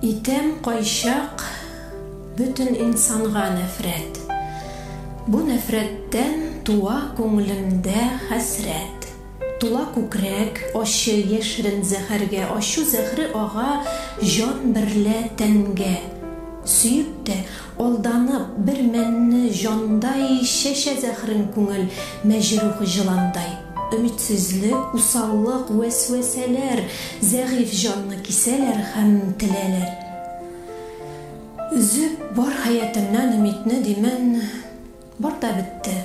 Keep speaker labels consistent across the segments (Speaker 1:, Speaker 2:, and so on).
Speaker 1: Итәм кайчак бөтен инсанга нәфрәт, Бу нәфрәттән туа күңелемдә хәсрәт. Тула күкрәк, ачы, яшерен зәһәргә, Ачу зәһре ага җан берлә тәнгә. Сөеп тә, алданып, бер мәнне җандай Чәчә зәһрен күңел мәҗрух җыландай. Өметсезлек, усаллык, вәсвәсәләр зәгыйфь җанны кисәләр һәм теләләр. Өзеп бар хәятыннан өмитне, димән, бар да бетте.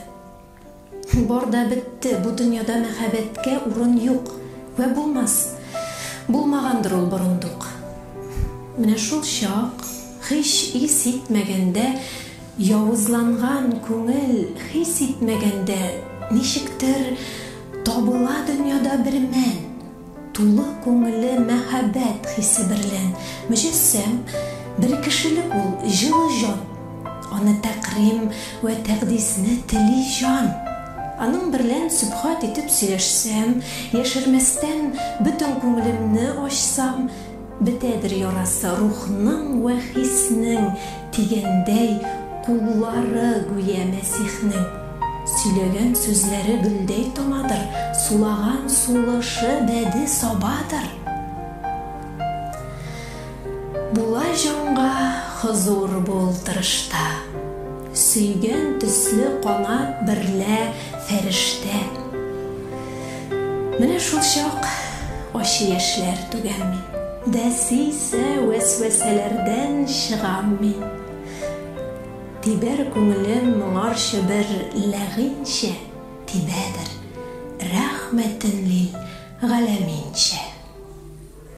Speaker 1: Бар да бетте, бу дөньяда мәхәббәткә урын юк вә булмас. Булмагандыр ул борындук. Менә шул чак, һич ис итмәгәндә, Явызланган күңел хис итмәгәндә ничектер табыла дөньяда бер мән, тулы күңеле мәхәббәт хисе берлән мөҗәссәм бер кешелек ул җылы җан, аны тәкърим вә тәкъдисне тели җан. Аның берлән сөбхат итеп сөйләшсәм, яшермәстән бөтен күңелемне ачсам, Бетәдер ярасы рухның вә хиснең, Дигәндәй, куллары, гүя Мәсихнең. Сөйләгән сүзләре гөлдәй томадыр, Сулаган сулышы бәде сабадыр. Була җанга хозур бул тырышта. Сөйгән төсле канат берлә фәрештә. Менә шул чак ачы яшьләр түгәм мин. Дәсисә вәсвәсәләрдән чыгам мин. Тибәр күңелем моңарчы бер ләгыйньчә, Тибәдер рәхмәтен лил галәминчә.